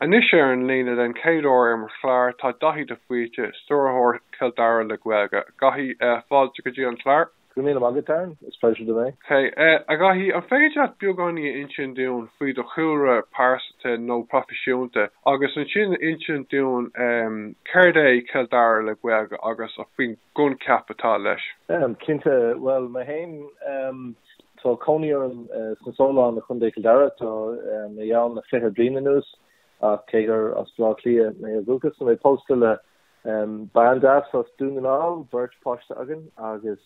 Anois ar an líne den chéad uair ar mo chlár tá Daithí de Faoite, Stiúrthóir Chill Dara le Gaeilge. A Dhaithí, fáilte go dtí an clár. Go raibh míle maith agat, Darren, is pléisiúr dom é. Sea, a Dhaithí, an féidir leat beagáinín a insint dúinn faoi do chúlra pearsanta nó proifisiúnta agus ansin a insint dúinn céard é Cill Dara le Gaeilge agus faoin gcoincheap atá leis? Cinnte, bhuel, mé féin. Tá cónaí orm sna Solláin i gContae Chill Dara. Tá mé ann le fiche bliain anuas ach cé gur as Blá Cliath mé ó dhúchas, tá mé pósta le bean deas as Dún na nGall, beirt páiste againn agus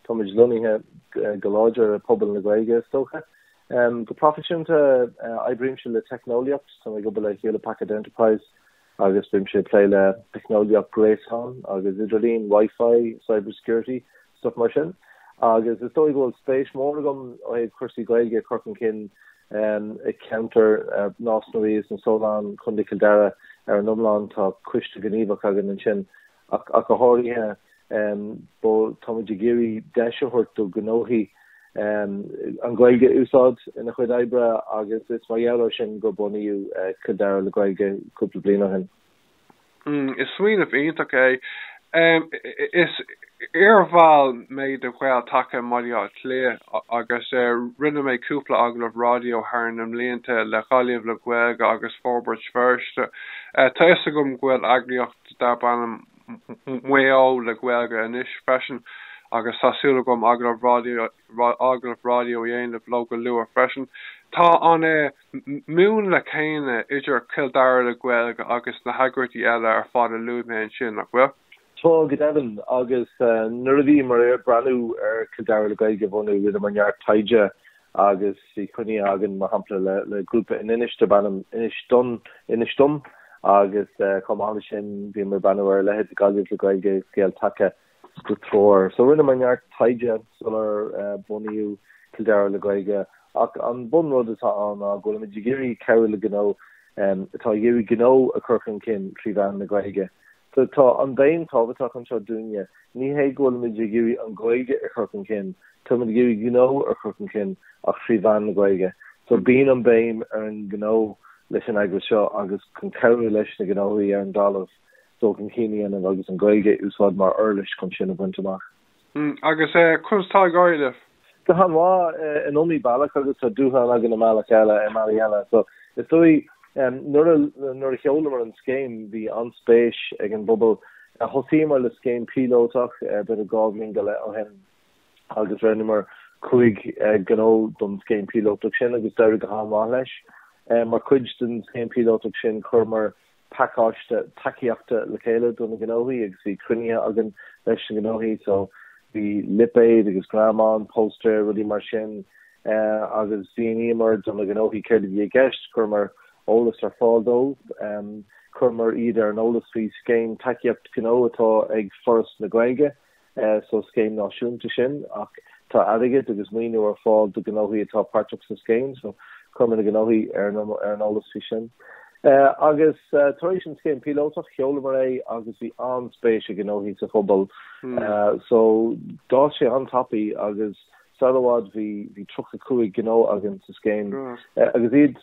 táimid lonnaithe go láidir i pobal na Gaeilge is dócha. Go proifisiúnta, oibrímse le teicneolaíocht, tá mé ag obair le Hewlett Packard Enterprise. agus bímse ag plé le teicneolaíocht gréasáin agus idirlín, Wi-Fi, cyber security, stuff mar sin, agus is dóigh go bhfuil spéis mór agam ó thaobh cúrsaí Gaeilge ag cur chun cinn i gceantar Nás na Rí is na Solláin, Contae Chill Dara. Ar an iomlán, tá coiste gníomhach againn ansin ach go háirithe. Táimid ag iarraidh deis a thabhairt do ghnóthaí an Ghaeilge a úsáid ina chuid oibre agus is mar gheall air sin gur bunaíodh Cill Dara le Gaeilge cúpla bliain ó shin. Is smaoineamh iontach é. Is iarbhall mé de Ghael-Taca i mBaile Átha Cliath agus rinne mé cúpla agallamh raidió thar na mblianta le Gaillimh le Gaeilge agus Forbairt Feirste. Tá fhios agam go bhfuil eagraíocht darb ainm Maigh Eo le Gaeilge anois freisin agus tá súil agam agallamh raidió a dhéanamh leo go luath freisin. Tá an múnla céanna idir Cill Dara le Gaeilge agus na heagraíochtaí eile ar fad a luaigh mé ansin, nach bhfuil? Tá go deimhin, agus nuair a bhíomar ag breathnú ar Cill Dara le Gaeilge a bhunú, rinneamar neart taighde agus bhí cruinniú againn, mar shampla, le grúpa in Inis darb ainm Inis Dom, Inis Dom, agus chomh maith leis sin bhíomar ag breathnú ar a leithéid Gaillimh le Gaeilge, Gael-Taca, do Treoir. So rinneamar neart taighde sular bunaíodh Cill Dara le Gaeilge, ach an bun rud atá ann ná go bhfuilimid ag iarraidh cabhrú le gnó atá ag iarraidh gnó a chur chun cinn trí mheán na Gaeilge. So tá an bhéim tábhachtach anseo dúinne. Ní hé go bhfuilimid ag iarraidh an Ghaeilge a chur chun cinn, táimid ag iarraidh gnó a chur chun cinn ach trí mheán na Gaeilge. So bíonn an béim ar an ngnó leis an eagras seo agus chun cabhrú leis na gnóthaí ar an dtalamh dul chun cinn a dhéanamh agus an Ghaeilge a úsáid mar uirlis chun sin a bhaint amach. Agus conas tá ag éirí libh? Go han-mhaith in iomaí bealach agus tá dúshlán againn i mbealach eile i mbealaí eile. So is dóigh nuair a nuair a sheolamar an scéim bhí an-spéis ag an bpobal. Thosaíomar le scéim píolótach b'fhéidir dhá bhliain go leith ó shin agus roghnaíomar cúig gnó don scéim píolótach sin agus d'éirigh go han-mhaith leis. Mar chuid den scéim píolótach sin chuireamar pacáiste tacaíochta le chéile do na gnóthaí agus bhí cruinnithe againn leis na gnóthaí so bhí lipéid agus greamáin, póstaeir, rudaí mar sin agus mhíníomar do na gnóthaí céard a bhí i gceist, chuireamar eolas ar fáil dóibh, chuireamar iad ar an eolas faoi scéim tacaíocht gnó atá ag Foras na Gaeilge. so scéim náisiúnta sin ach tá airgead agus maoiniú ar fáil do ghnóthaí atá páirteach sa scéim so chuireamar na gnóthaí ar an eolas faoi sin. Agus tar éis an scéim píolótach sheolamar é agus bhí an-spéis ag gnóthaí sa phobal so d'fhás sé an-tapaidh agus sar i bhfad bhí 35 gnó againn sa scéim agus iad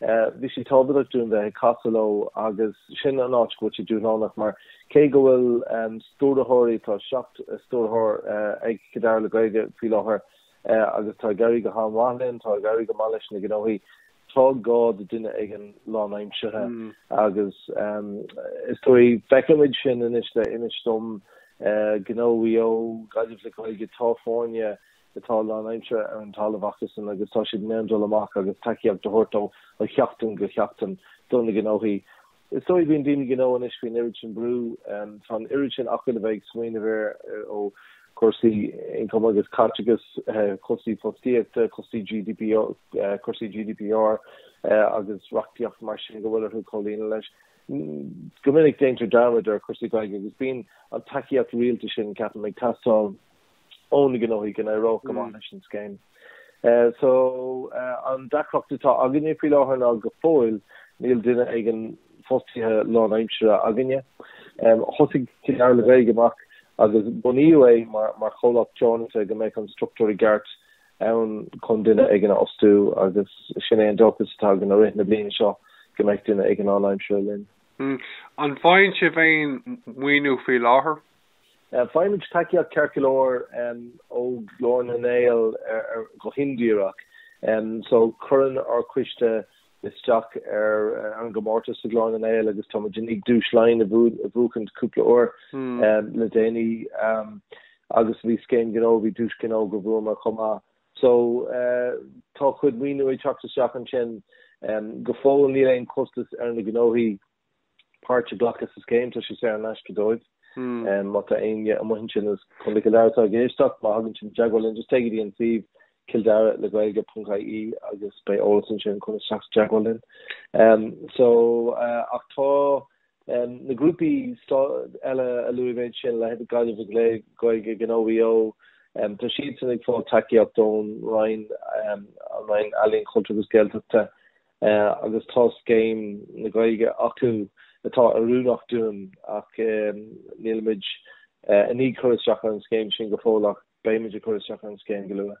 Bhí sé tábhachtach dúinn bheith ag casadh leo agus sin an áit go bhfuil sé dúshlánach mar cé go bhfuil stiúrthóirí, tá seacht stiúrthóir ag Cill Dara le Gaeilge faoi láthair agus tá ag éirí go han-mhaith linn, tá ag éirí go maith leis na gnóthaí, tá gá do duine éigin lánaimseartha agus is dóigh feicimid sin anois le Inis Dom, Gnó Mhaigh Eo, Gaillimh le Gaeilge, tá foirne, atá lánaimseartha ar an talamh acusan agus tá siad in ann dul amach agus tacaíocht a thabhairt ó sheachtain go seachtain do na gnóthaí. Is dóigh bíonn daoine gnó anois faoin oiread sin brú. Tá an oiread sin acu le bheith ag smaoineamh air ó chúrsaí ioncaim agus caiteachais, cúrsaí fostaíochta, cúrsaí GDP, cúrsaí GDPR agus reachtaíocht mar sin go bhfuil orthu comhlíonadh leis. Go minic déantar dearmad ar chúrsaí Gaeilge agus bíonn an tacaíocht rialta sin, ceapaim, ag teastáil ó na gnóthaí go n-éireodh go maith leis an scéim. So, an deacracht atá againne faoi láthair ná go fóill níl duine éigin fostaithe lánaimseartha againne. Thosaigh Cill Dara le Gaeilge amach agus bunaíodh é mar chomhlacht teoranta go mbeidh an struchtúr i gceart ann chun duine éigin a fhostú agus sin é an dóchas atá againn i rith na bliana seo go mbeidh duine éigin lánaimseartha linn. An bhfaigheann sibh féin maoiniú faoi láthair? Faighimid tacaíocht ceart go leor ó Ghlór na nGael go hindíreach so cuireann ár coiste isteach ar an gcomórtas sa Ghlór na nGael agus táimid i ndiaidh Duais Laighean a bhuachaint cúpla uair le déanaí agus bhí scéim gnó, bhí duais gnó go bhuamar chomh maith. So tá cuid maoiniú ag teacht isteach ansin go fóill níl aon costas ar na gnóthaí páirt a ghlacadh sa scéim, tá sé saor in aisce dóibh. Má tá éinne amuigh ansin i gContae Chill Dara atá ag éisteacht, má thagann siad i dteagmháil linn, just téigh go dtí an suíomh cilldara le gaeilge.ie agus beidh eolas ansin chun teacht i dteagmháil linn. So, ach tá na grúpaí eile a luaigh mé ansin, a leithéid de Gaillimh le Gaeilge, Gnó Mhaigh Eo, tá siadsan ag fáil tacaíocht ón Roinn, an Roinn Ealaíon, Cultúir agus Gaeltachta. agus tá scéim na Gaeilge acu atá oiriúnach dúinn ach nílimid i ndiaidh cur isteach ar an scéim sin go fóill ach beimid ag cur isteach ar an scéim go luath.